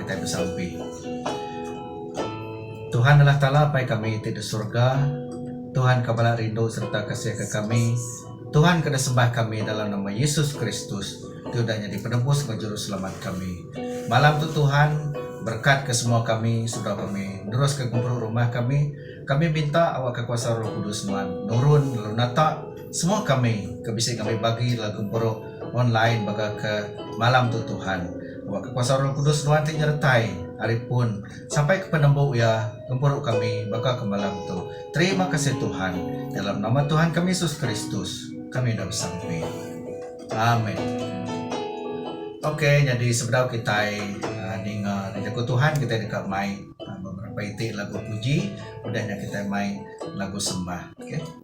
Kitai besampi. Tuhan Allah Taala Apai kami ti di surga, Tuhan ke bala rindu sereta kasihka kami. Tuhan ke desembah kami dalam nama Yesus Kristus ti udah nyadi penebus enggau juruselamat kami. Malam tu Tuhan berekatka semua kami seduai kami neruska gempuru rumah kami, kami minta awakka kuasa Roh Kudus nuan nurun lalu nata semua kami ke bisi ngambi bagi dalam gempuru online baka ke malam tu Tuhan. Awakka kuasa Roh Kudus nuan ti nyeretai ari pun. Sampai ke penembuk iya ngempuru kami baka ke malam tu. Terima kasih Tuhan. Dalam nama Tuhan kami Yesus Kristus kami udah besampi. Amen. Ok nyadi sebedau kitai ah, ninga jaku Tuhan kitai deka mai ah, beberapa iti lagu puji udah nya kitai mai lagu sembah. Okay.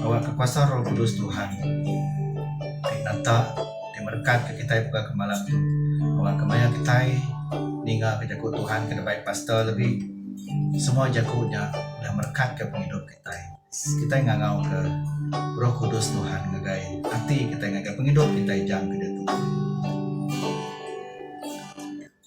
Awakka kuasa roh kudus Tuhan ti nata ti merekatka kitai buka ke malam tu. Awakka maya kitai ninga ke jaku Tuhan ke dibai pastor lebih semua jaku nya udah merekatka pengidup kitai. Kitai ngangauka roh kudus Tuhan ngagai ati kitai ngagai pengidup kitai jangka diatu.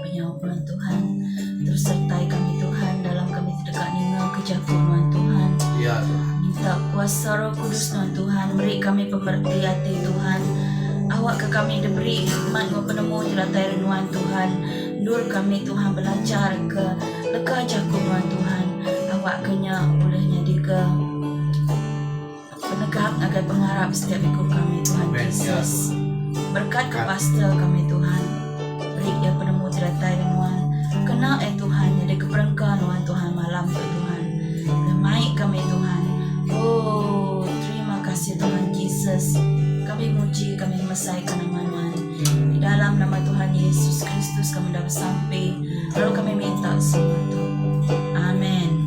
Penyawa Penuan Tuhan terus sertai kami Tuhan dalam kami tedeka ninga ke jaku Nuan Tuhan. Ya Tuhan. Minta kuasa Roh Kudus Nuan Tuhan meri kami pemerti ati Tuhan. Awak ke kami diberi hikmat enggau penemu ti datai dari Nuan Tuhan. Endur kami Tuhan belajar ke leka jaku Nuan Tuhan. Awak ke nya ulih nyadi ke Penegap ngagai pengarap setiap iku kami Tuhan Jesus. Berkatka pastor kami Tuhan. Beri iya penemu jeretai ri nuan. Kena eh Tuhan nyadi keperengka nuan Tuhan malam tu Tuhan. Remai kami Tuhan. Oh terima kasih Tuhan Jesus. Kami muji kami ngemesaikan nama nuan. Di dalam nama Tuhan Yesus Kristus kami dah besampi. Lalu kami minta semua tu. Amen.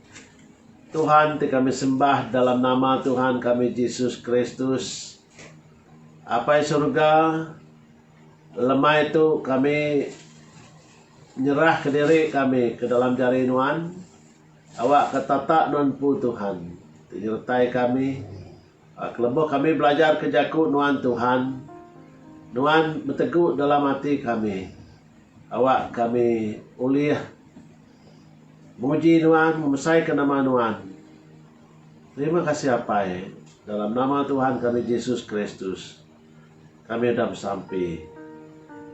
Tuhan ti kami sembah dalam nama Tuhan kami Jesus Kristus, Apai Suruga, lemai tu kami nyerahka diri kami ke dalam jari Nuan, awakka tatak Nuan Empu Tuhan, ti nyertai kami, Keleboh kami belajarka jaku nuan Tuhan, nuan betegu dalam ati kami. Awak kami ulih muji nuan, ngemesaika nama nuan. Terima kasih Apai, dalam nama Tuhan kami Jesus Kristus kami udah besampi.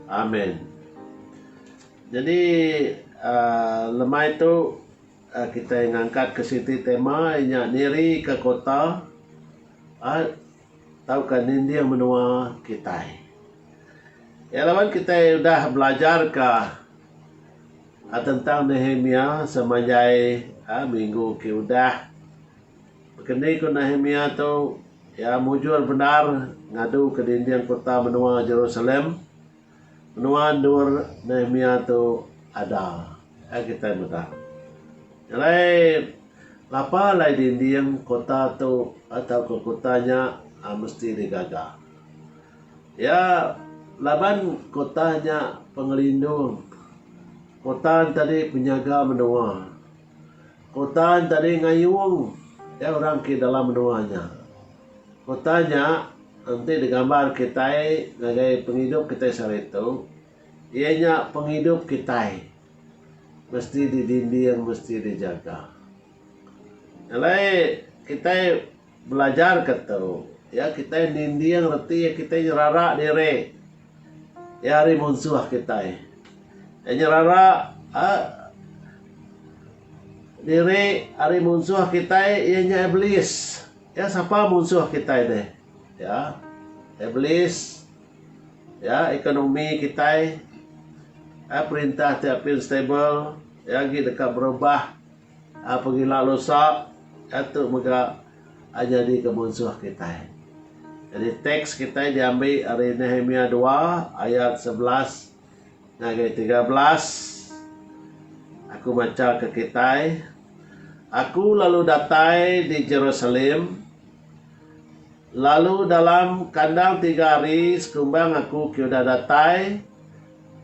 Amen. Nyadi aaa lemai tu. Kitai ngangkatka siti tema iya nya nirika kota tauka ninding menua kitai. Iya laban kitai udah belajarka tentang Nehemia semanjai minggu ke udah. Baka ni ku Nehemia tu iya mujur bendar ngaduka dinding kota menua Jerusalem. Menua endur Nehemia tu ada iya kitai meda. Alai lapa alai dinding kota tu tauka kota nya mesti digaga. Iya laban kota nya pengelindung. Kota enti tadi penyaga menua. Kuta nya tadi ngayung iya orang ke dalam menua nya. Kuta nya enti digambar kitai ngagai pengidup kitai sehari tu iya nya pengidup kitai mesti didinding mesti dijaga. Alai kitai. Belajar ke tu, iya kitai ninding reti iya kitai nyerara diri. Iya hari munsuh kitai. Iya nyerara uhh diri ari munsuh kitai iya nya Iblis. Iya sapa munsuh kitai nih? Iya Iblis. Iya ekonomi kitai. Iya perintah ti apin stable. Iya agi deka berubah. Pengila lusa iya tu mega nyadi ke munsuh kitai. Jadi teks kitai diambi ari Nehemia dua ayat sebelas ngagai tiga belas. Aku macha ke kitai, Aku lalu datai di Jerusalem, lalu dalam kandang tiga hari sekumbang aku ke udah datai,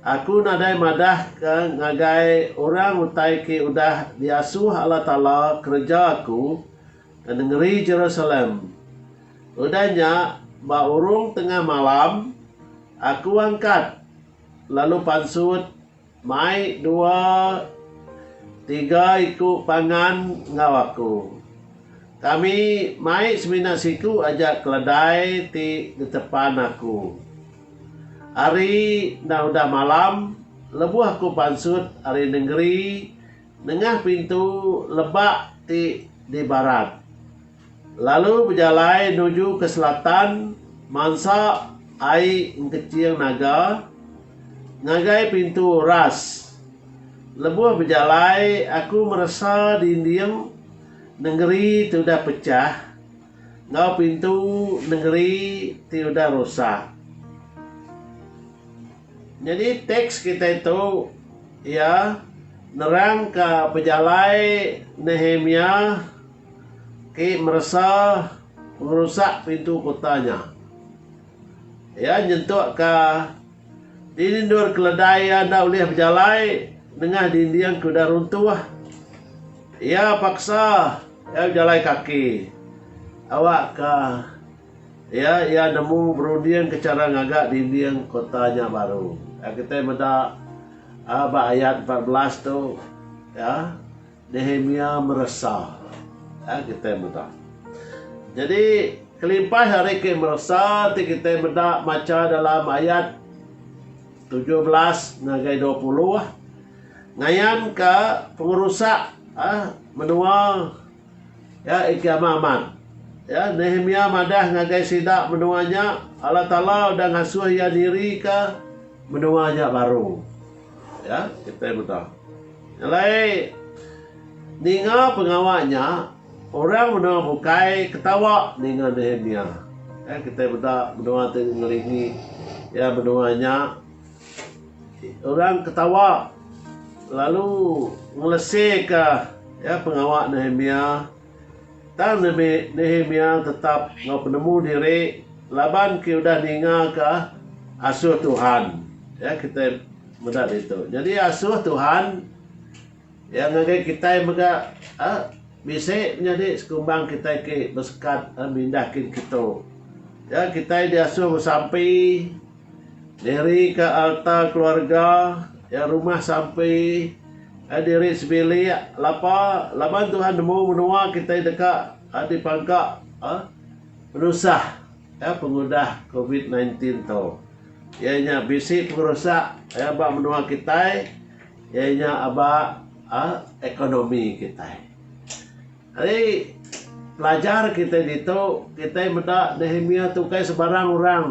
Aku nadai madah ke ngagai orang utai ke udah diasuh Allah Taala kereja aku ke nengeri Jerusalem. Udah nya, ba urung tengah malam, aku angkat lalu pansut mai dua tiga iku pangan enggau aku. Kami mai semina siku aja keledai ti ditepan aku. Ari enda udah malam, lebuh aku pansut ari nengeri nengah pintu lebak ti di barat, lalu bejalai nuju ke selatan mansa ai engkeching naga ngagai pintu ras. Lebuh bejalai aku meresa dinding nengeri ti udah pechah. Enggau pintu nengeri ti udah rusak. Nyadi teks kitai tu iya nerangka pejalai Nehemia ke meresa pengerusak pintu kuta nya. Iya nyentukka. Dini endur keledai iya enda ulih bejalai nengah dinding ke udah runtuh. Iya paksa iya bejalai kaki. Awakka iya, iya nemu berundingka chara ngaga dinding kota nya baru. Iya kitai meda ba ayat empat belas tu iya. Nehemia meresa. Ai kitai meda. Jadi kelimpah ari ke meresa ti kitai meda macha dalam ayat tujuh belas ngagai dua puluh ngayanka pengerusak ah, menua ya iki amat amat. Ya Nehemia madah ngagai sida menua nya Allah Taala udah ngasuh iya nirika menua nya baru. Ya, kitai meda. Alai ninga pengawa nya, orang menoa bukai ketawa ninga Nehemia. Ya, kitai meda menoa ti ngelingi ya menoa nya orang ketawa lalu ngeleseka ya pengawa Nehemia. Tang Nehemia tetap enggau penemu diri laban ke udah ningaka asuh Tuhan. Ya kitai meda ditu. Nyadi asuh Tuhan iya ngagai kitai mega uhh bisi menyadi sekumbang kitai ke besekat mindah kin keto. Ya kitai diasuh besampi. Diri ka alta keluarga ya rumah sampi ai diri sebilik lapa laban Tuhan nemu menua kitai deka dipangka penusah ya pengudah covid sembilan belas tu. Ya nya bisi pengerusak ya ba menua kitai ya nya ba ekonomi kitai. Ari pelajar kitai ditu, kitai meda Nehemia tu ukai sebarang orang.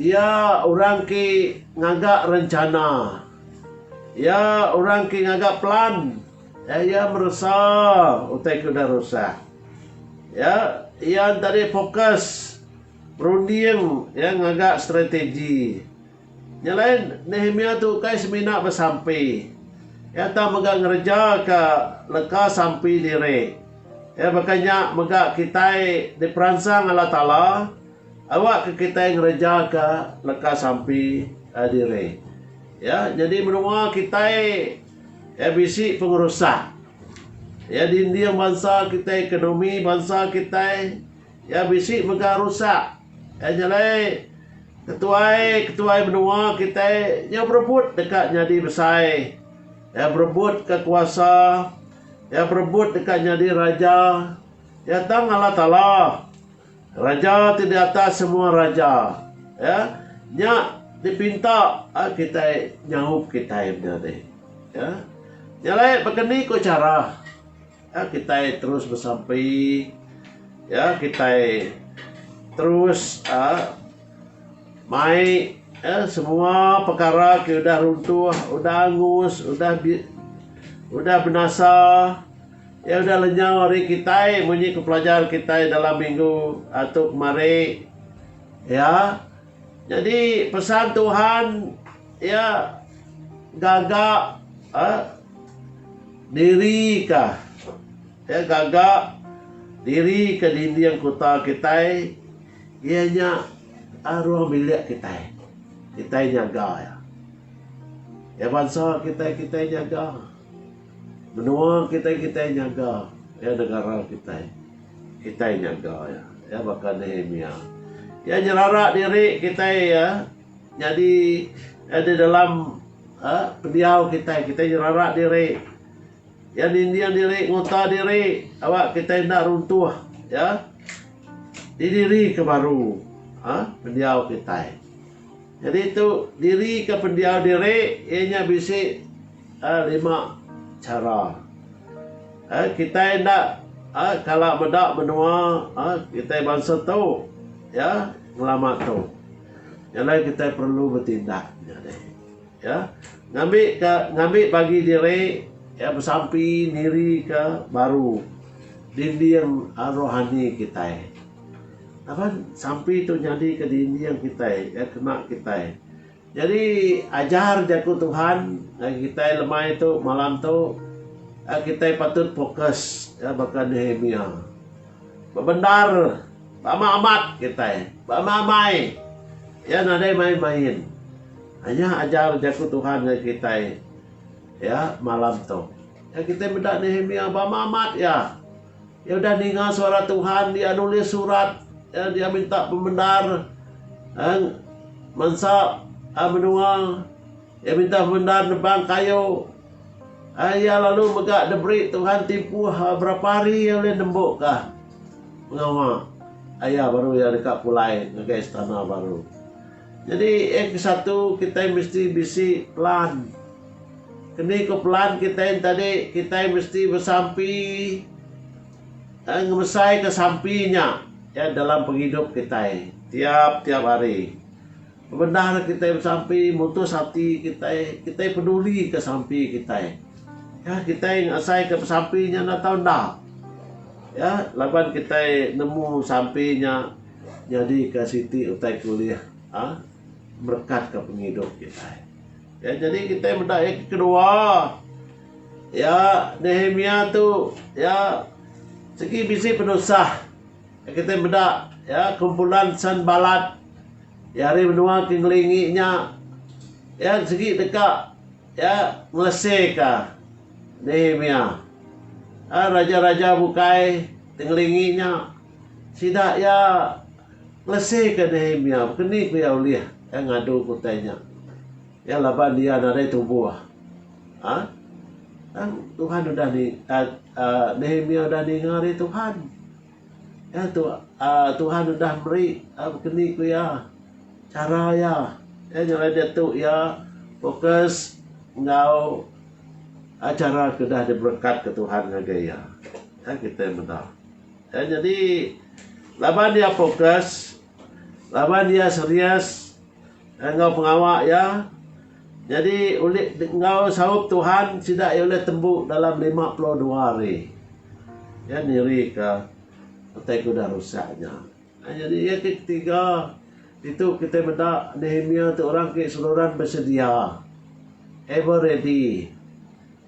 Iya orang ke ngaga rencana. Iya orang ke ngaga pelan. Iya iya meresa utai ke udah rusah. Iya iya enti tadi fokus berunding iya ngaga strategi. Nya alai, Nehemia tu ukai semina besampi. Iya tau mega ngerejaka leka sampi diri. Iya baka nya mega kitai diperansang Allah Taala awakka kitai ngerejaka leka sampi diri. Ya, nyadi menua kitai iya bisi pengerusak. Iya dinding bansa kitai, ekonomi bansa kitai. Iya bisi mega rusak. Iya nyelai ketuai-ketuai menua kitai nyau berebut deka nyadi besai. Iya berebutka kuasa. Iya berebut deka nyadi raja. Iya tang Allah Taala, Raja ti di atas semua raja. Iya nya dipinta kitai nyaup kitai menyadi. Iya nyelai baka ni ko chara? Ya kitai terus besampi ya kitai terus mai ya semua pekara ke udah runtuh udah angus udah di udah benasa ya udah lenyau ari kitai munyi ke pelajar kitai dalam minggu atu kemari ya. Nyadi pesan Tuhan iya gaga diri ka iya gaga diri ka dinding kuta kitai iya nya ruang bilik kitai. Kitai nyaga iya. Iya bansa kitai kitai nyaga. Menua kitai kitai nyaga iya negara kitai kitai nyaga iya iya baka Nehemia iya nyerara diri kitai iya nyadi iya di dalam uhh pendiau kitai kitai nyerara diri iya ninding diri nguta diri aba kitai enda runtuh iya didiri ke baru uhh pendiau kitai jadi tu diri ke pendiau diri iya nya bisi Ai lima chara. Ai kitai enda ai kala meda menua ai kitai bansa tu ya ngelama tu. Nya alai kitai perlu betindak nyadi ya ngambi ka ngambi bagi diri ya besampi niri ke baru dinding ai rohani kitai. Laban sampi tu nyadi ke dinding kitai ya kena kitai. Jadi ajar jaku Tuhan ngagai kitai lemai tu malam tu kitai patut fokus baka Nehemia. Bebendar beamat amat kitai. Beamai amai iya nadai main main. Nya ajar jaku Tuhan ngagai kitai malam tu. Kitai meda Nehemia beamat amat iya. Iya udah ninga suara Tuhan, iya nulis surat, lalu iya minta pemendar bansa menua. Iya minta pemendar nebang kayu. Iya lalu mega diberi Tuhan timpuh berapa hari iya ulih nembu ka pengawa iya baru iya deka pulai ngagai istana baru. Jadi yang kesatu kitai misti bisi plan. Keni ko pelan kitai enti tadi kitai mesti besampi eh ngemesai ka sampi nya ya dalam pengidup kitai tiap tiap hari. Bebendar kitai besampi mutus ati kitai, kitai peduli ka sampi kitai. Ya kitai ngasai ka besampi nya enda tau enda ya laban kitai nemu sampi nya nyadi ka siti utai ke ulih ah merekat ka pengidup kitai. Iya nyadi kitai meda iya ke kedua. Iya, Nehemia tu, iya sigi bisi penusah. Kitai meda iya kumpulan Sanbalat, iya ari menua ke ngelingi nya. Iya sigi deka iya ngeleseka Nehemia. Raja-raja bukai ti ngelingi nya sida iya. Lesi ke Nehemia bekeni ku iya ulih iya ngadu ke utai nya? Iya laban iya nadai tubuh. A Tang Tuhan udah ni uhh Nehemia udah ninga ari Tuhan. Iya tu uhh Tuhan udah meri bekeni ku iya chara iya. Iya nya alai diatu iya fokus enggau chara ke udah diberekatka Tuhan ngagai iya. Nya kitai meda. Iya nyadi laban iya fokus, laban iya serius enggau pengawa iya, nyadi ulih enggau saup Tuhan sida iya ulih tembu dalam lima puluh dua hari. Iya nirika utai ke udah rusak nya. Nah nyadi iya ti ketiga ditu kitai meda Nehemia ti orang ke seruran besedia, ever ready.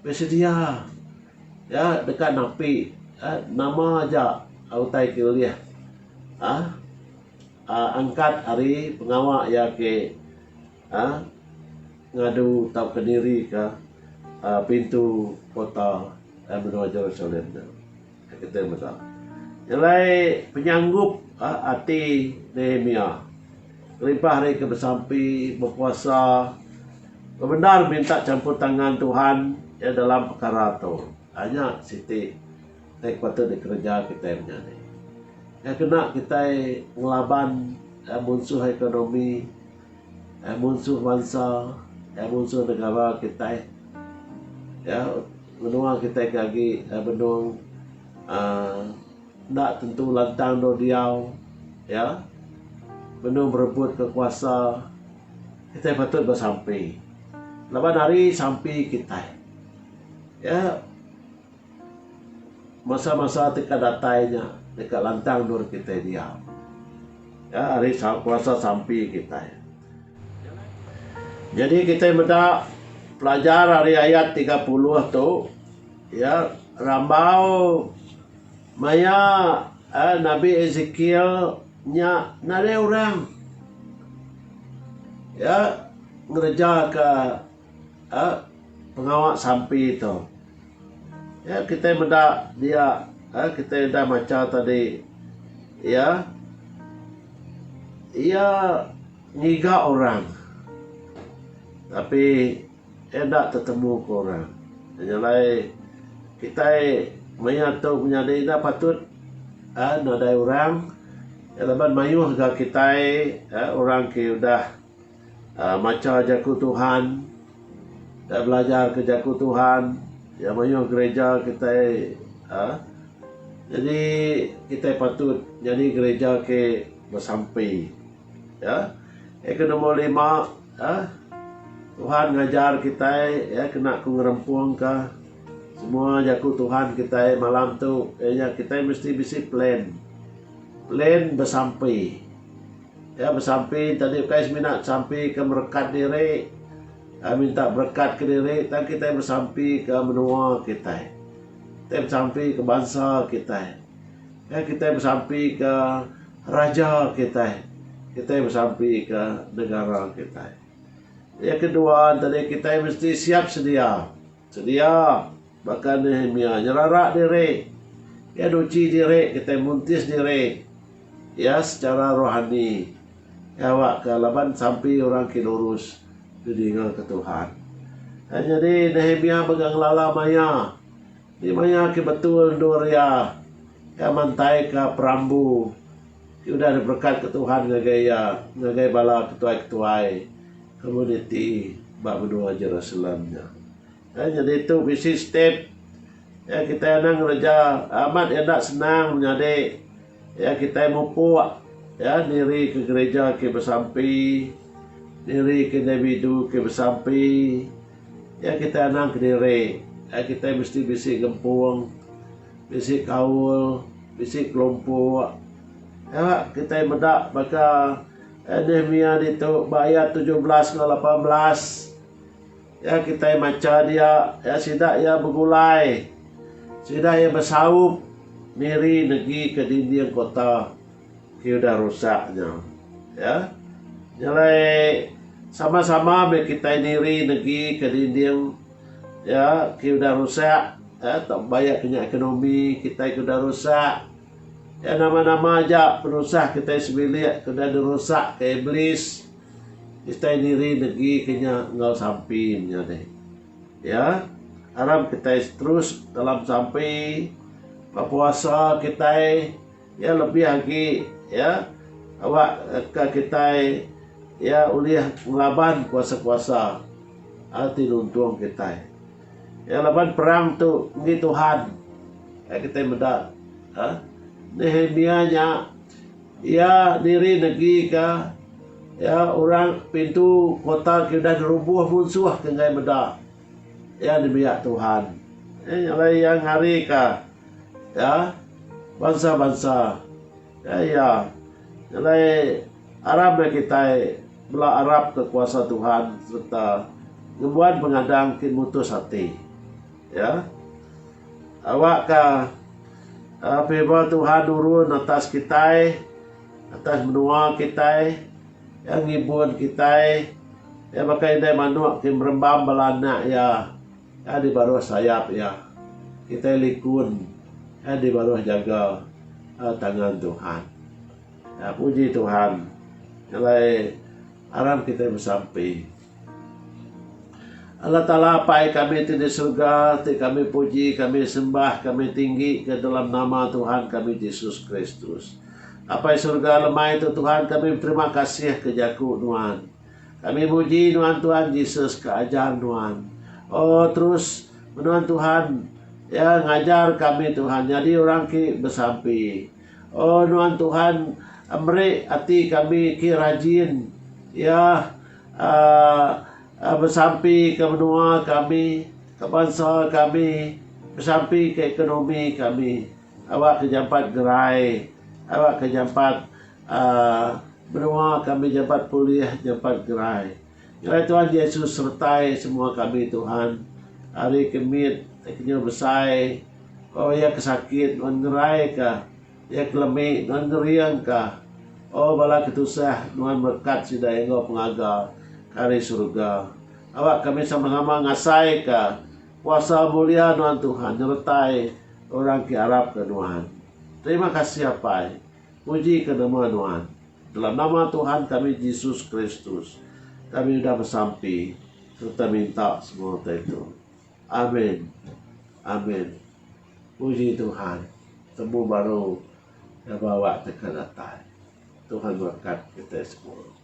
Besedia ya deka napi nama aja utai ke ulih uhh angkat ari pengawa iya ke uhh ngadu tauka nirika pintu kota menua Jerusalem tu. Kita mega nyelai penyanggup ati Nehemia kelimpah ari ke besampi, bepuasa, bebendar minta champur tangan Tuhan iya dalam pekara tu. Ai nya siti ti patut dikereja kitai menya ni. Nya kena kitai ngelaban munsuh ekonomi. Eh munsuh bansa, eh munsuh negara kitai. Ya, menua kitai ke agi eh benung aaa enda tentu lantang dau diau, ya. Benung berebut ka kuasa. Kitai patut besampi laban ari sampi kitai. Ya. Masa-masa ti ka datai nya deka lantang endur kitai diau ya ari kuasa sampi kitai. Jadi kitai meda pelajar ari ayat tiga puluh tu ya rambau maya uhh nabi Ezekiel nya nadai orang ya ngereja ka. pengawa sampi tu ya kitai meda dia kitai udah macha tadi ya ya ngiga orang tapi enda tetemu ke orang nya alai kitai maia tu menyadi enda patut nadai orang laban mayuh ga kitai orang ke udah Aa macha Jaku Tuhan, kitai belajarka Jaku Tuhan, iya mayuh gereja kitai aa nyadi kitai patut nyadi gereja ke besampi. Aa yang ke nombor lima aa Tuhan ngajar kitai aa kena ku ngerempungka semua Jaku Tuhan kitai malam tu iya nya kitai mesti bisi plan. Plan besampi. Iya besampi enti dih ukai semina besampi ke merekat diri minta berekat ke diri tang kitai besampi ke menua kitai. Kitai besampi ke bansa kitai. Iya kitai besampi ke raja kitai. Kitai besampi ke negara kitai. Iya kedua enti dih kitai mesti siap sedia. Sedia, baka Nehemia nyerara diri, iya nuchi diri kitai muntis diri iya sechara rohani ngawa ke laban sampi orang ke lurus didingarka Tuhan. Nya nyadi Nehemia mega ngelala maya enti maya ke betul endur iya. Iya mantaika perambu ke udah diberekatka Tuhan ngagai iya ngagai bala ketuai-ketuai. Komuniti ba menua Jerusalem nya. Ai nyadi tu bisi step iya kitai anang ngereja amat enda senang menyadi iya kitai mupuk iya niri ke gerija ke besampi niri ke individu ke besampi iya kitai anang kediri ai kitai mesti bisi gempung bisi kaul bisi kelompok nya kitai meda baka Nehemia ditu ba ayat tujuh belas enggau lapan belas ya kitai macha dia ya sida iya begulai sida iya besaup miri negi ke dinding kota ti udah rusak nya ya nyelai sama-sama meh kitai niri negi ke dinding ya ti udah rusak ya tau baya ke nya ekonomi kitai ke udah rusak. Nya nama-nama aja penusah kitai sebilik ke udah dirusakka Iblis, kitai niri negika nya enggau sampi menya nih. Ya, aram kitai terus dalam sampi, bepuasa kitai, ya lebih agi ya awakka kitai ya ulih ngelaban kuasa-kuasa ti nuntung kitai. Iya laban perang tu enggi Tuhan. Ai kitai meda uhh Nehemia nya iya diri negika iya orang pintu kota ke udah dirubuh munsuh ke enggai meda iya nembiak Tuhan. Ai nya alai iya ngarika uhh bansa-bansa. Udah iya, nyelai aram meh kitai bela arapka kuasa Tuhan sereta ngembuan pengadang ti mutus ati. Ya. Awakka aaa favour Tuhan nurun atas kitai, atas menua kitai, iya ngibun kitai, iya baka indai manuk ti merembam bala anak iya. Ai di baruh sayap iya. Kitai likun ai di baruh jaga tangan Tuhan. Nya puji Tuhan alai aram kitai besampi. Allah Taala Apai kami ti di surga ti kami puji kami sembah kami tinggi ka dalam nama Tuhan kami Jesus Kristus. Apai surga lemai tu Tuhan kami beterima kasih ka jaku nuan. Kami muji nuan Tuan Jesus ke ajar nuan. Oh terus menuan Tuhan ya ngajar kami Tuhan nyadi orang ki besampi. Oh nuan Tuhan meri ati kami ki rajin ya um besampi ke menua kami ke bansa kami besampi ke ekonomi kami awak ke jampat gerai awak ke jampat Menua kami nyampat pulih nyampat gerai. Ngerai Tuhan Jesus sertai semua kami Tuhan ari ke mit kenyau besai oh iya ke sakit nuan ngerai ka iya ke lemi nuan ngering ka oh bala ke tusah nuan berkat sida enggau pengaga ke ari surga awak kami sama sama ngasai ka kuasa mulia nuan Tuhan nyertai orang ke arap ka nuan. Terima kasih apai. Puji ke nama Nuan. Dalam nama Tuhan kami Jesus Kristus kami udah besampi sereta minta semua utai tu. Amin. Amin. Puji Tuhan. Temu baru Daba Awak Teka Datai. Tuhan berkat kitai semua.